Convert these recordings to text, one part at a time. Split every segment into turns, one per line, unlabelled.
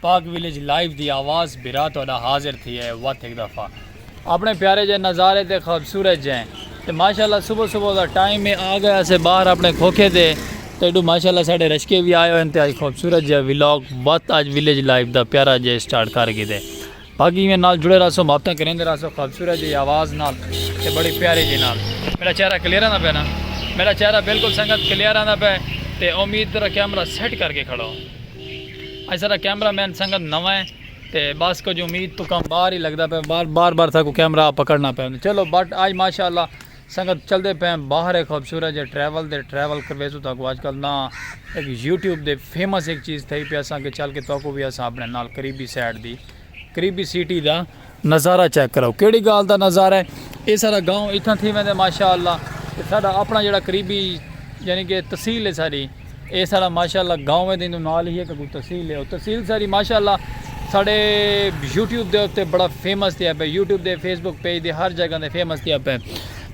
پاک village live دی آواز بھرا تہاڈا حاضر تھی اے وت ہک دفعہ اپنے پیارے جے نظارے تے خوبصورت جے تے ماشاءاللہ صبح صبح دا ٹائم اے آ گئے اسے باہر اپنے کھوکھے تے تے ایڈو ماشاءاللہ ساڈے رشکے وی آئے ہوئے تے اج خوبصورت جے ولاگ وت اج ویلیج لائیو دا پیارا جے سٹارٹ کر گھدے۔ باقی ایویں نال جڑے رہسو محبتاں کریندے رہسو خوبصورت جی آواز نال تے بڑی پیاری جی نال میرا چہرہ کلیئر آندا پے نا میرا چہرہ بالکل سنگت کلیئر آندا پے تے امید تیرا کیمرہ سیٹ کر کے کھڑو اج سارا کیمرہ مین سنگت نواں ہے تے بس کچھ امید تو کم باہر ہی لگدا پے بار بار بار تھا کو کیمرہ پکڑنا پے چلو بٹ آج ماشاءاللہ سنگت چلدے پئیں باہر اے خوبصورت جے ٹریول دے ٹریول کرویزو تہاکوں اج کل نہ اک یوٹیوب دے فیمس اک چیز تھئی پئے اساں کے چل کے تہاکوں وی اساں اپنے نال قریبی سائیڈ دی قریبی سیٹی دا نظارہ چیک کراؤ کیڑی گال دا نظارہ اے اے سارا گاؤں اتھاں تھی ویندے ماشاءاللہ تے ساڈا اپنا جیڑا قریبی یعنی کے تحصیل اے ساڈی اے ساڑا ماشاء اللہ گاؤں ہے دیندو نال ہی ہے ککو تحصیل ہے اور تحصیل ساری ماشاء اللہ ساڑے یوٹیوب دے اتے بڑا فیمس تھیا پہ یوٹیوب دے فیس بک پیج دے ہر جگہ دے فیمس تھیا پہ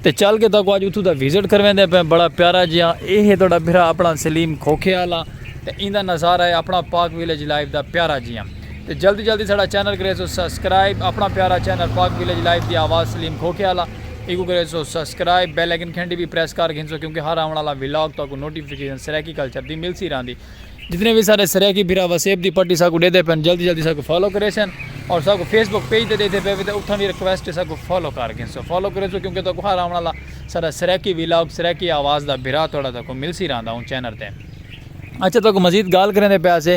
تے چل کے تاکو آج اتھو دا وزٹ کرویں دے پہ بڑا پیارا جیا اے ہے توڑا بھرا اپنا سلیم کھوکھے آلا تے ایندہ نظارہ ہے اپنا پاک ویلیج لائف دا پیارا جیا تے جلدی جلدی ساڈا چینل کریسو سبسکرائب اپنا پیارا چینل پاک ویلیج لائف دی آواز سلیم کھوکھے آلا ایکوں کریسو سبسکرائب بیل آئیکن گھنٹی وی پریس کر گھنسو کیونکہ ہر آون آلا ولاگ تہاکوں نوٹیفیکیشن سرائیکی کلچر دی ملسی راہندی جتنے وی ساڈے سرائیکی بھرا وسیب دی پٹی ساکوں ڈیدے پن جلدی جلدی ساکوں فالو کریسن اور ساکوں فیس بک پیج تے ڈیدے پے وی تے اتھاں وی ریکویسٹ ہے ساکوں فالو کر گھنسو فالو کریسو کیونکہ تہاکوں ہر آون آلا ساڈا سرائیکی ولاگ سرائیکی آواز دا بھرا تہاڈا تہاکوں ملسی راہندا اوں چینل تے اچھا تہاکوں مزید گال کریندے پیاسے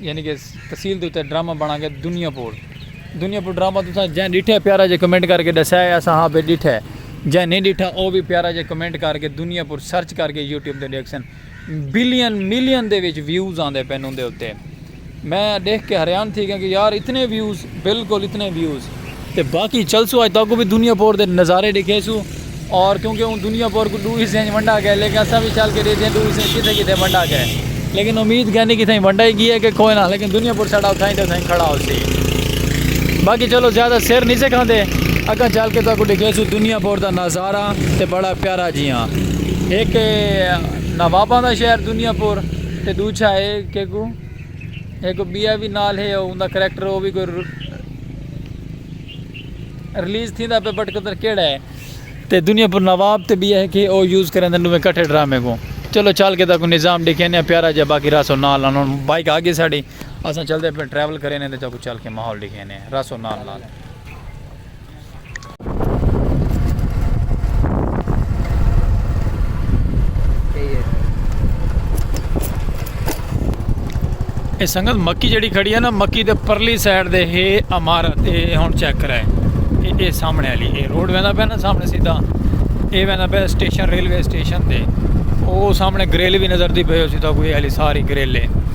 یعنی کہ تحصیل دے اتے ڈرامہ بنا گئے دنیا پور دنیا پور ڈرامہ تساں جیں ڈیٹھا ہے پیارا جے کمنٹ کر کے ڈسیا ہے اساں ہاں بے ڈیٹھا ہے جیں نہیں ڈیٹھا او بھی پیارا جے کمنٹ کر کے دنیا پور سرچ کر کے یوٹیوب تے ڈیکھ سن بلین ملین دے وچ ویوز آندے پن اوندے اتے میں دیکھ کے حریان تھی گیا کہ یار اتنے ویوز بالکل اتنے ویوز تے باقی چلسوں اج تاکوں بھی دنیا پور دے نظارے ڈیکھے سوں اور کیونکہ اون دنیا پور کو دو حصے ونڈا گئے لیکن اساں بھی چل کے ڈیکھے ہیں دو حصے کتھے کتھے ونڈا گئے لیکن امید کہنی کتھے ونڈا ہی گیا کہ کوئی نہ لیکن دنیا پور ساڑا اتھائی تے اتھائی کھڑا ہو سی باقی چلو زیادہ سر نہیں سے کھاندے اگاں چل کے تاکوں ڈیکھے سوں دنیا پور دا نظارہ تے بڑا پیارا جیاں ایک نواباں دا شہر دنیا پور تے دوچھا ہے کہ کو ہک بیا وی نال ہے او اوندا کریکٹر او وی کوئی ریلیز تھیندا پے بٹ کتر کیڑا ہے تے دنیا پر نواب تے بیا ہے کہ او یوز کریندن ڈویں کٹھے ڈرامے کو چلو چال کے دا کو نظام ڈیکھینے ہیں پیارا جا باقی راسو نال نال ہن بائک آ گئی ساڈی اساں چلدے پے ٹریول کرینے تے چاکو چال کے ماحول ڈیکھینے ہیں راسو نال نال اے سنگت مکی جڑی کھڑی ہے نا مکی دے پرلی سائیڈ دے ہے عمارت اے ہن چیک کرائے اے اے سامنے والی اے روڈ ویندا پہ نا سامنے سیدھا اے ویندا پہ سٹیشن ریلوے سٹیشن دے او سامنے گریل بھی نظر دی پہ ہو سیدھا کوئی علی ساری گریل ہے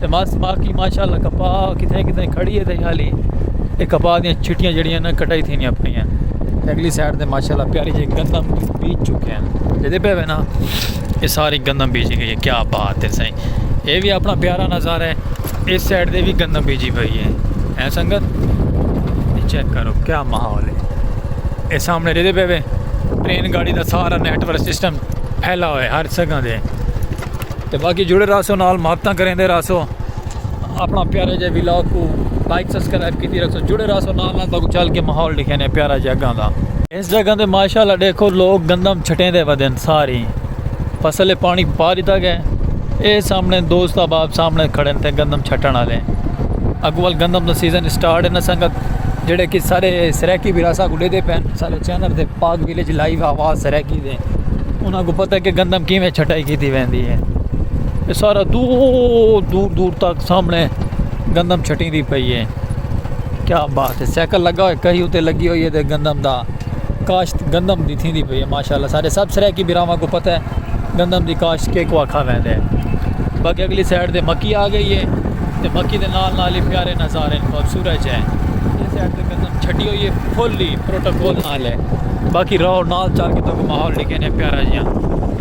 تے مس باقی ماشاءاللہ کپا کتھے کتھے کھڑی ہے تے حالی اے کپا دیاں چھٹیاں جڑیاں نہ کٹائی تھیندیاں پئیاں تے اگلی سائیڈ تے ماشاءاللہ پیالی جے گندم بیج چکے ہیں جیندے پے وینا اے ساری گندم بیجی گئی ہے کیا بات ہے سائیں اے وی اپنا پیارا نظارہ ہے اس سائیڈ دے وی گندم بیجی پئی ہے اے سنگت چیک کرو کیا ماحول ہے اے سامنے جیندے پے وے ٹرین گاڑی دا سارا نیٹ ورک سسٹم پھیلا ہوئے ہر سگاں دے تے باقی جڑے رہسو نال محبتاں کریندے رہسو اپنا پیارے جے ویلاگ کو لائک سبسکرائب کیتی رکھسو جڑے رہسو نال نال تاکو چل کے ماحول دکھینے پیارا جے اگاں دا اس جگہ تے ماشاءاللہ دیکھو لوگ گندم چھٹیں دے ودن ساری فصل پانی پا دیتا گئے اے سامنے دوست احباب سامنے کھڑے تے گندم چھٹن والے اگوال گندم دا سیزن سٹارٹ ہے نا سنگت جڑے کہ سارے سرائیکی وراثہ کو لے دے پین سارے چینل تے پاک ویلیج لائیو آواز سرائیکی انہاں کوں پتہ ہے کہ گندم کیویں چھٹائی کیتی ویندی ہے یہ سارا دور دور دور تک سامنے گندم چھٹی دی پئی ہے کیا بات ہے سائیکل لگا ہوئے کہیں اتے لگی ہوئی ہے گندم دا کاشت گندم دی تھی دی پئی ہے ماشاءاللہ سارے سب سرے کی براواں کو پتہ ہے گندم دی کاشت کے کو آکھا ویندے ہیں باقی اگلی سائڈ دے مکی آ گئی ہے تے مکی دے نال نال ہی پیارے نظارے خوبصورت ہے اس سائڈ تے گندم چھٹی ہوئی ہے پھلی پروٹوکول نال ہے باقی راہو نال چل کے تو ماحول ڈکھے نے پیارا جیاں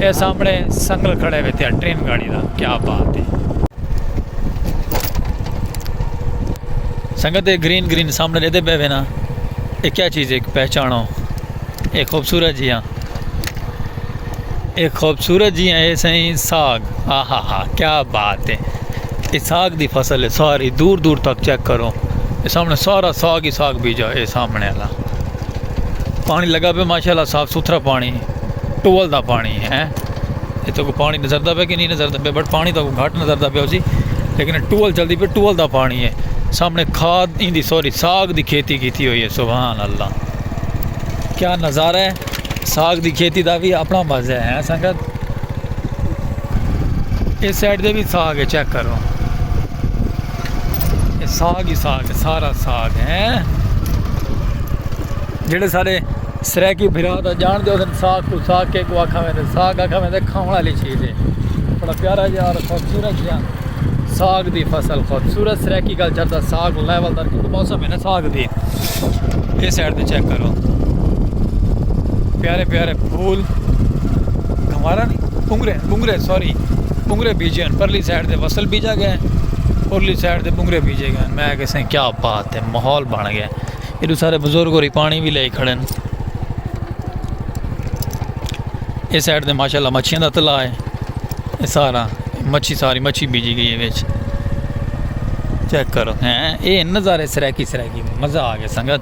اے سامنے سنگل کھڑے ہوئے تھے ٹرین گاڑی دا کیا بات ہے سنگت گرین گرین سامنے لے دے بیوے نا اے کیا چیز ہے پہچانو اے خوبصورت جیاں اے خوبصورت جی اے سائیں ساگ ہا ہا ہا کیا بات ہے اے ساگ دی فصل ہے ساری دور دور تک چیک کرو اے سامنے سارا ساگ ہی ساگ بیجا اے سامنے والا پانی لگا پہ ماشاءاللہ صاف ستھرا پانی ٹول دا پانی ہے اے تو کو پانی نظر دا پہ کہ نہیں نظر دا پہ بٹ پانی تو کو گھٹ نظر دا پہ اسی لیکن ٹول جلدی پہ ٹول دا پانی ہے سامنے کھاد ایندی ساری ساگ دی کھیتی کیتی ہوئی ہے سبحان اللہ کیا نظارہ ہے ساگ دی کھیتی دا بھی اپنا مزہ ہے ہاں سنگت اس سائڈ دے بھی ساگ ہے چیک کرو یہ ساگ ہی ساگ ہے سارا ساگ ہے جڑے سارے سریکی بھرا دا جان دے اسن ساگ کو ساگ کے کو آکھا میں دے ساگ آکھا میں دے کھاؤنا لی چیز ہے بڑا پیارا جا رہا خوبصورت جا ساگ دی فصل خوبصورت سریکی گل چڑھتا ساگ لیول در کیونکہ موسم ہے نا ساگ دی یہ سائڈ دی چیک کرو پیارے پیارے پھول گھمارا نہیں پنگرے پنگرے سوری پنگرے بیجے ہیں پرلی سائڈ دے فصل بیجا گئے پرلی سائڈ دے پنگرے بیجے گئے میں کہہ سیں کیا بات ہے ماحول بن گیا یہ سارے بزرگ ہو رہی پانی بھی لے کھڑے ہیں یہ سائڈ دے ماشاءاللہ مچھیاں دا تلا ہے یہ سارا مچھی ساری مچھی بیجی گئی ہے وچ چیک کرو ہیں اے نظارے سرائکی سرائکی مزہ آ گیا سنگت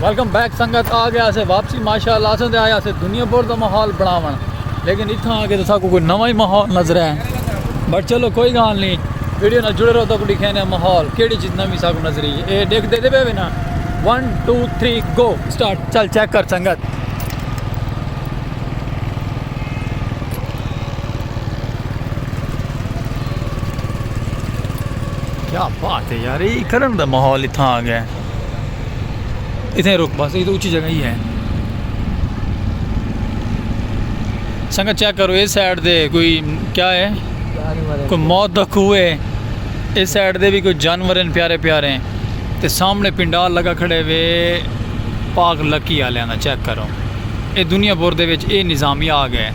ویلکم بیک سنگت آ گیا سے واپسی ماشاءاللہ اساں تے آیا سے دنیا پور دا ماحول بناون لیکن اتھاں آ کے تو ساکو کوئی نواں ہی ماحول نظر ہے بٹ چلو کوئی گال نہیں ویڈیو نہ جڑے رہو تو کو دکھینے ماحول کیڑی چیز نوی ساکو نظر ہی اے دیکھ دے دے بے نا 1 2 3 گو سٹارٹ چل چیک کر سنگت کیا بات ہے یار یہ کرن دا ماحول اتھاں آ گیا ہے اتھیں رک بس اتھیں اچھی جگہ ہی ہے سنگا چیک کرو اس سائڈ دے کوئی کیا ہے کوئی موت دا کھو ہے اس سائڈ دے بھی کوئی جانور ہیں پیارے پیارے ہیں تے سامنے پنڈال لگا کھڑے وے پاک لکی آ لینا چیک کرو اے دنیا بور دے وچ اے نظامی آ گئے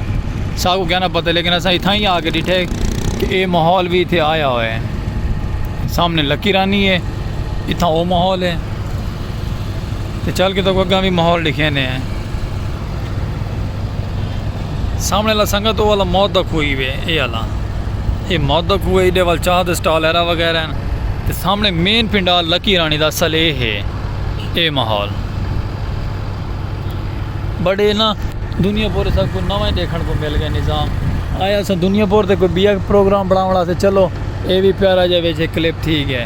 سا کو کہنا پتہ لیکن اسا اتھا ہی آ کے ڈٹھے کہ اے ماحول بھی اتھے آیا ہوئے سامنے لکی رانی ہے اتھاں او ماحول ہے تے چل کے تکوں اگاں وی ماحول ڈکھینے ہیں سامنے لا سنگت او والا موت دا کھوئی وے اے والا اے موت دا کھوئی ایڈے وال چاہ دے سٹال ایرا وغیرہ ہیں تے سامنے مین پنڈال لکی رانی دا اصل اے ہے اے ماحول بڑے نا دنیا پور سب کو نوائیں دیکھن کو مل گئے نظام آیا سا دنیا پور تے کوئی بیا پروگرام بڑھاونا سے چلو اے وی پیارا جا ویچے کلپ تھی گئے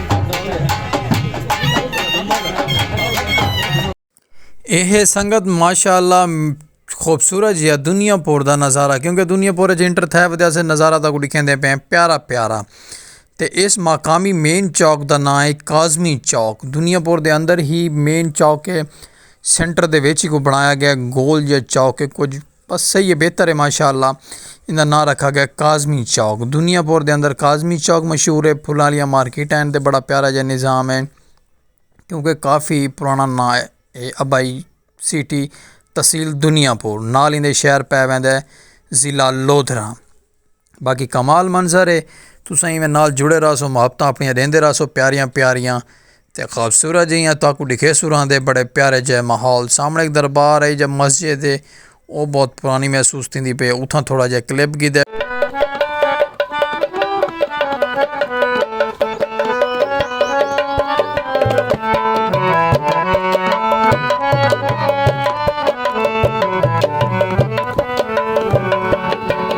اے سنگت ماشاء اللہ خوبصورت جی دنیا پور دا نظارہ کیونکہ دنیا پور جی انٹر تھے ودیا سے نظارہ تاکو دکھیں دے پہ پیارا پیارا تے اس مقامی مین چوک دا نام ہے کازمی چوک دنیا پور دے اندر ہی مین چوک ہے سینٹر دے ویچی کو بنایا گیا گول یا چوک ہے کچھ بس صحیح ہے بہتر ہے ماشاء اللہ ایندا ناں رکھا گیا کاظمی چوک دنیا پور دے اندر کاظمی چوک مشہور ہے پھلاں آلیاں مارکیٹ ہیں تے بڑا پیارا جا نظام ہے کیونکہ کافی پرانا ناں ہے اے ابائی سٹی تحصیل دنیا پور نال ایندے شہر پے ویندے ضلع لودھراں۔ باقی کمال منظر ہے تساں ایویں نال جڑے رہسو محبتاں اپنیاں ڈیندے رہسو پیاریاں پیاریاں تے خوبصورت جیاں تاکو ڈکھے سوراں دے بڑے پیارے جے ماحول سامنے ایک دربار ہے جے مسجد ہے او بہت پرانی محسوس تھیندی پے اتھاں تھوڑا جے کلپ گیدے۔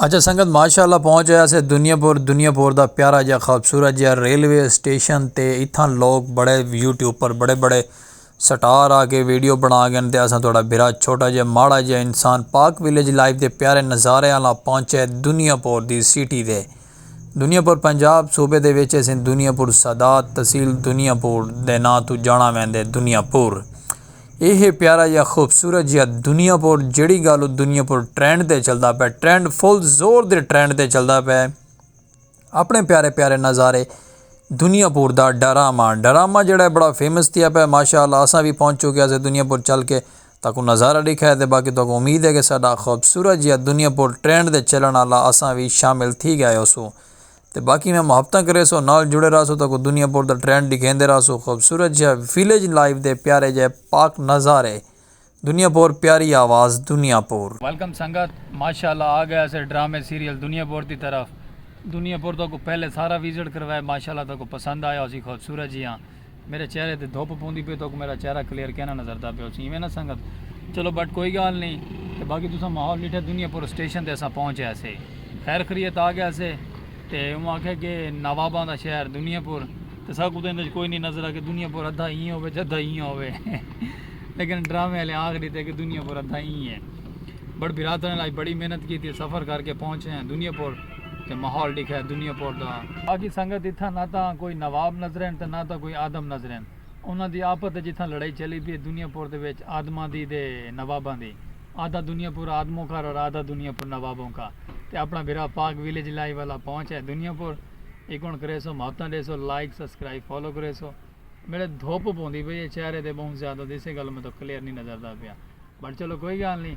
اچھا سنگت ماشاء اللہ پہنچ آیا سے دنیا پور دنیا پور دا پیارا جا خوبصورت جا ریلوے اسٹیشن تے اتھاں لوگ بڑے یوٹیوب پر بڑے بڑے سٹار آ کے ویڈیو بنا گن تے اساں تہاڈا بھرا چھوٹا جا ماڑا جا انسان پاک ولیج لائف دے پیارے نظارے آلا پہنچے دنیا پور دی سٹی دے دنیا پور پنجاب صوبے دے وچ اسیں دنیا پور سادات تحصیل دنیا پور دے ناں توں جانڑاں ویندے دنیا پور اے ہے پیارا جیا خوبصورت جیا دنیا پور جیڑھی گال او دنیا پور ٹرینڈ تے چلدا پے ٹرینڈ فل زور دے ٹرینڈ تے چلدا پے اپنے پیارے پیارے نظارے دنیا پور دا ڈرامہ ڈرامہ جیڑھا بڑا فیمس تھیا پے ماشاءاللہ اساں وی پہنچ چکے اسیں دنیا پور چل کے تہاکوں نظارہ ڈکھائے تے باقی تہاکوں امید ہے کہ ساڈا خوبصورت جیہا دنیا پور ٹرینڈ دے چلن آلا اساں وی شامل تھی گئے ہوسو تے باقی میں محبتاں کریسو نال جڑے راہسو تہاکوں دنیا پور دا ٹرینڈ ڈکھیندے راہسو خوبصورت جیہا ویلیج لائف دے پیارے جئے پاک نظارے دنیا پور پیاری آواز دنیا پور۔ ویلکم سنگت ماشاءاللہ آ گئے اسے ڈرامے سیریل دنیا پور دی طرف دنیا پور تہاکوں پہلے سارا وزٹ کروائے ماشاءاللہ تہاکوں پسند آیا ہوسی خوبصورت جیہاں میرے چہرے تے دھوپ پوندی پئی توک میرا چہرہ کلیئر کینا نظردا پیا اچھی ایویں نہ سنگت چلو بٹ کوئی گال نہیں تے باقی تساں ماحول ڈٹھے دنیا پور اسٹیشن تے اساں پہنچ گئے سے خیر خریت آ گئے سے تے اوہ آکھیا کہ نواباں دا شہر دنیا پور تے ساکوں تے اندے کوئی نہیں نظر آ کہ دنیا پور ادھا ایں ہووے تے ادھا ایں ہووے لیکن ڈرامے والے آکھ ڈتے کہ دنیا پور ادھا ایں ہے بٹ بھرا تنے لائی بڑی محنت کیتی سفر کر کے پہنچے ہیں دنیا پور تے ماحول ڈکھا دنیا پور دا۔ باقی سنگت اتھاں نہ تاں کوئی نواب نظرین تے نہ تاں کوئی آدم نظرین۔ انہاں دی آپت اچ اتھاں لڑائی چلی پی اے دنیا پور دے وچ آدماں دی تے نواباں دی۔ آدھا دنیا پور آدموں کا اور آدھا دنیا پور نوابوں کا۔ تے اپنا بھرا پاک ویلیج لائیو والا پہنچ ہے دنیا پور۔ ایکون کریسو محبتاں ڈیسو لائک سبسکرائب فالو کریسو۔ میڈے دھوپ پوندی پئی اے چہرے تے بہوں زیادہ تیسے گل میں تو کلیئر نہیں نظر دا پیا۔ بٹ چلو کوئی گال نہیں۔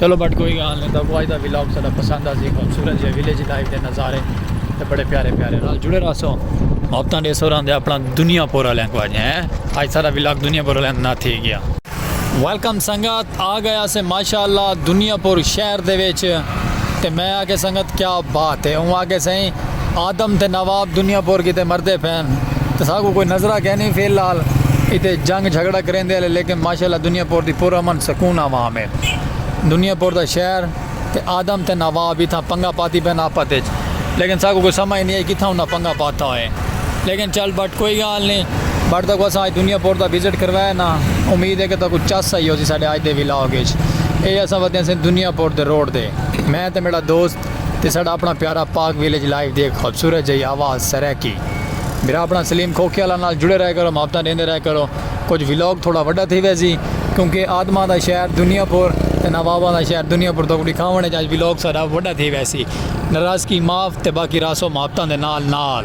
چلو بٹ کوئی گال نہیں تاکو آج دا ویلاگ ساڈا پسند آسی خوبصورت جے ویلیج لائف دے نظارے تے بڑے پیارے پیارے نال جڑے رہسو محبتاں دے سوراں دے اپنا دنیا پور والےاں کو آج ہیں آج ساڈا ویلاگ دنیا پور والےاں نا تھی گیا ویلکم سنگت آ گئے آسے ماشاءاللہ دنیا پور شہر دے وچ تے میں آکھے سنگت کیا بات ہے اوں آکھے سائیں آدم تے نواب دنیا پور کیتے مردے پھین تے ساکوں کوئی نظرہ کینی فی الحال اتے جنگ جھگڑا کریندے ہلے لیکن ماشاءاللہ دنیا پور دی پر امن سکون عوام ہے دنیا پور دا شہر تے آدم تے نواب اتھاں پنگا پاتی پئن آپت اچ لیکن ساکوں کوئی سمجھ نی آئی کتھاں انہاں پنگا پاتا ہوئے لیکن چل بٹ کوئی گال نی بٹ تاکوں اساں اج دنیا پور دا وزٹ کروایا نا امید ہے کہ تاکوں چس آئی ہوسی ساڈے اج دے ولاگ اچ اے اساں ودیاں سے دنیا پور دے روڈ تے میں تے میڈا دوست تے ساڈا اپنا پیارا پاک ویلیج لائیو دی ہک خوبصورت جئی آواز سرائیکی بھرا اپنا سلیم کھوکھے آلا نال جڑے رہے کرو محبتاں ڈیندے رہے کرو کچھ ولاگ تھوڑا وڈا تھی ویسی کیونکہ آدماں دا شہر دنیا پور تے نواباں دا شہر دنیا پور تہاکوں ڈکھاونڑ اچ اج ولاگ ساڈا وڈا تھی ویسی ناراضگی معاف تے باقی راسو محبتاں دے نال نال۔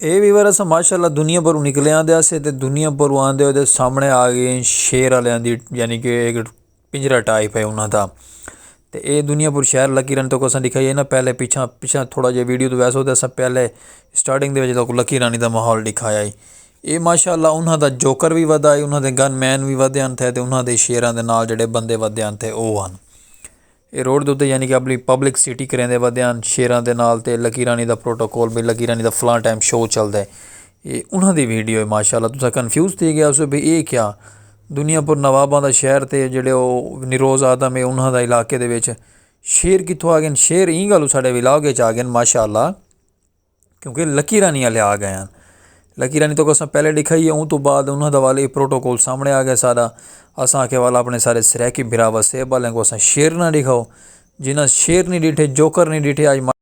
اے ویور اسا ماشاءاللہ دنیا پر نکلے آندے اسے تے دنیا پر آندے ہوئے دے سامنے آگئے شیر آلیاں دی یعنی کہ ایک پنجرہ ٹائپ ہے انہاں دا تے اے دنیا پر شہر لکی رن تکو اساں دکھائی ہے نا پہلے پچھاں پچھاں تھوڑا جے ویڈیو تو ویسو اساں پہلے سٹارٹنگ دے وجہ تکو لکی رانی دا ماحول دکھایا ہے اے ماشاءاللہ انہاں دا جوکر وی ودھا ہے انہاں دے گن مین وی ودھے ہن تھے تے انہاں دے شیراں دے نال جڑے بندے ودھے ہن تھے او ہن اے روڈ دے اتے یعنی کہ اپنی پبلک سٹی کریں دے ودھے ہن شیراں دے نال تے لکی رانی دا پروٹوکول بھی لکی رانی دا فلاں ٹائم شو چل دے اے انہاں دی ویڈیو ہے ماشاءاللہ تساں کنفیوز تھی گیا اسو بھی اے کیا؟ دنیا پور نواباں دا شہر تے جڑے او نروز آدم ہے انہاں دا علاقے دے وچ شیر کتھوں آ گئے شیر ایں گالوں ساڈے ولاگ اچ آ گئے ماشاء اللہ کیونکہ لکی رانی والے آ گئے ہیں لکی رانی تو کو اساں پہلے ڈکھا ہی ہے اوں تو بعد انہاں دا والے پروٹوکول سامنے آ گئے سارا اساں آکھے والا اپنے سارے سرائیکی بھرا وسیب والے کو اساں شیر نہ ڈکھاؤ جنہاں شیر نی ڈیٹھے جوکر نی ڈیٹھے آج ماڑے۔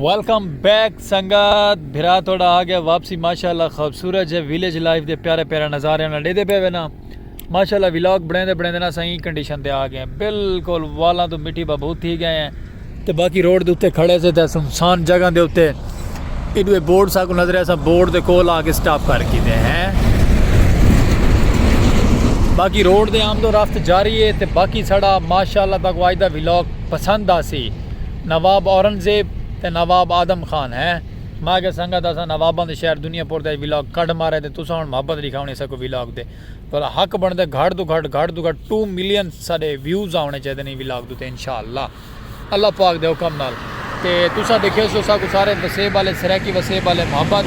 ویلکم بیک سنگت بھرا تہاڈا آ گیا واپسی ماشاءاللہ خوبصورت جے ویلیج لائف دے پیارے پیارے نظارے نال ڈیدھے پے وینا ماشاءاللہ ولاگ بنیندے بنیندے نا اساں ایں کنڈیشن تے آ گئے ہیں بالکل والاں توں مٹی بھبھوت تھی گئے ہیں۔ تے باقی روڈ دے اتے کھڑے سے تے سنسان جگہ دے اتے ایڈوے بورڈ ساکو نظر ہے سا بورڈ دے کول آ کے سٹاپ کر کی دے ہیں باقی روڈ دے آمد و رفت جاری ہے تے باقی سڑا ماشاءاللہ تاکو آج دا ویلوک پسند آسی نواب اورنگزیب تے نواب آدم خان ہیں ماں کے سنگت آسا نوابان دے شہر دنیا پور دے ویلوک کڈ مارے تے تسان محبت لکھاونی ساکو ویلوک دے. تہاڈا حق بنڑدا ہے گھٹ توں گھٹ گھٹ توں گھٹ ٹو ملین ساڈے ویوز آونے چاہیدے نے ولاگ دے اتے انشاءاللہ اللہ پاک دے حکم نال تے تساں ڈیکھیس جو ساکوں سارے وسیب آلے سرائیکی وسیب آلے محبت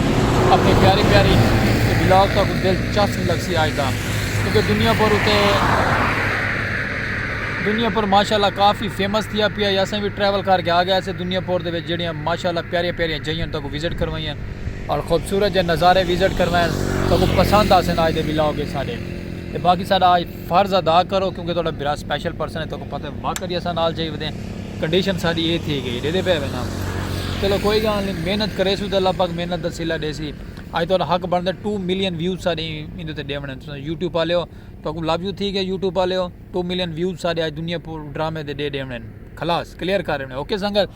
اپنی پیاری پیاری تے ولاگ ساکوں دل چسپ لگسی آج دا کیونکہ دنیا پر اتے دنیا پر ماشاءاللہ کافی فیمس تھیا پیا یا اساں وی ٹریول کر کے آ گئے اسے دنیا پر دے وچ جیڑیاں ماشاءاللہ پیاری پیاری جگہ تاکوں وزٹ کروائیاں۔ اور خوبصورت جے نظارے وزٹ کروین تہاکوں پسند آسن آج دے ولاگ اچ ساڈے تے باقی ساڈا آج فرض ادا کرو کیونکہ تہاڈا بھرا سپیشل پرسن ہے تہاکوں پتہ ہے واقعی اساں نال چاہی ودے کنڈیشن ساڈی اے تھی گئی ڈیدے پے وینا چلو کوئی گال نہیں محنت کریسو تے اللہ پاک محنت دا صلہ ڈیسی آج تہاڈا حق بندا ہے ٹو ملین ویوز ساڈے ایندے تے ڈیونے تساں یوٹیوب آلیو تہاکوں لو یو تھی گئے یوٹیوب آلیو۔ ٹو ملین ویوز ساڈے اج دنیا پور ڈرامے دے ڈے ڈیونے خلاص کلیئر کر ڈیونے اوکے سنگت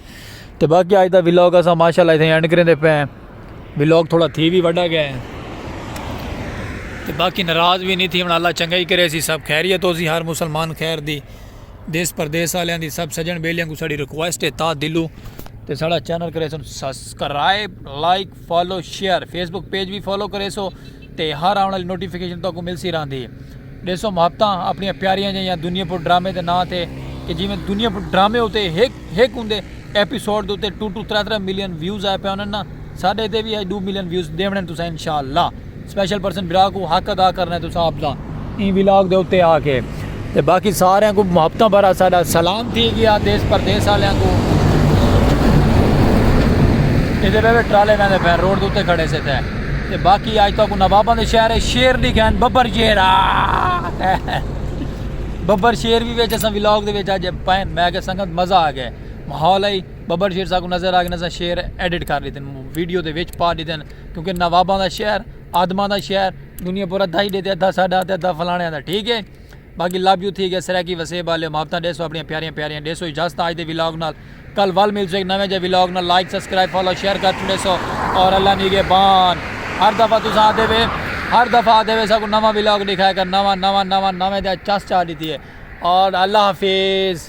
تے باقی اج دا ولاگ اسا ماشاءاللہ ایتھے اینڈ کریں دے پے ولاگ تھوڑا تھی بھی وڈا گئے تے باقی ناراض بھی نہیں تھی ہن اللہ چنگا ہی کرے سی سب خیریت ہو سی ہر مسلمان خیر دی دیس پردیس والے دی سب سجن بیلیاں کو ساڑی ریکویسٹ ہے تا دلو تے ساڑا چینل کرے سن subscribe like follow share Facebook page وی فالو کریسو تے ہر آون آلی نوٹیفیکیشن تہاکوں ملسی رہندی ڈیسو محبتاں اپنیاں پیاریاں جیاں دنیا پور ڈرامے دے ناں تے کہ جیویں دنیا پور ڈرامے اتے ہک ہک اوندے ایپیسوڈ دے اتے ٹو ٹو ترے ترے ملین ویوز آئے پئے ہونن نا ساڈے اتے وی ہج ڈو ملین ویوز ڈیونڑن تساں انشاءاللہ۔ سپیشل پرسن برا کو حق ادا کرنا ہے تساں اپنا این ولاگ دے اتے آ کے تے باقی سارے کو محبتاں بھرا ساڈا سلام تھی گیا دیس پردیس والے کو ایدے بے بے ٹرالے میں دے پھر روڈ دے اتے کھڑے سے تھے تے باقی آج تو کو نواباں دے شہر ہے شیر دی گھن ببر شیر ببر شیر بھی ویچے سن ولاگ دے ویچے پائن میں کہ سنگت مزہ آ گئے ماحول ہے ببر شیر سا کو نظر آ گئے نظر شیر ایڈٹ کر لیتے ہیں ویڈیو دے ویچ پا لیتے ہیں کیونکہ نواباں دا شہر آدماں دا شہر دنیا پورا دھائی ڈے تے ادھا ساڈا تے ادھا فلانے دا ٹھیک ہے باقی لو یو تھی گیا سرائیکی وسیب والے محبتاں ڈیسو اپنی پیاریاں پیاریاں ڈیسو اجازت آج دے ولاگ نال کل ول مل سو ایک نویں جے ولاگ نال لائک سبسکرائب فالو شیئر کر چھڑے سو اور اللہ نیگے بان ہر دفعہ تو ساتھ دے وے ہر دفعہ دے وے سا کو نواں ولاگ دکھائے کر نواں نواں نواں نویں دے چس چا دیتی ہے اور اللہ حافظ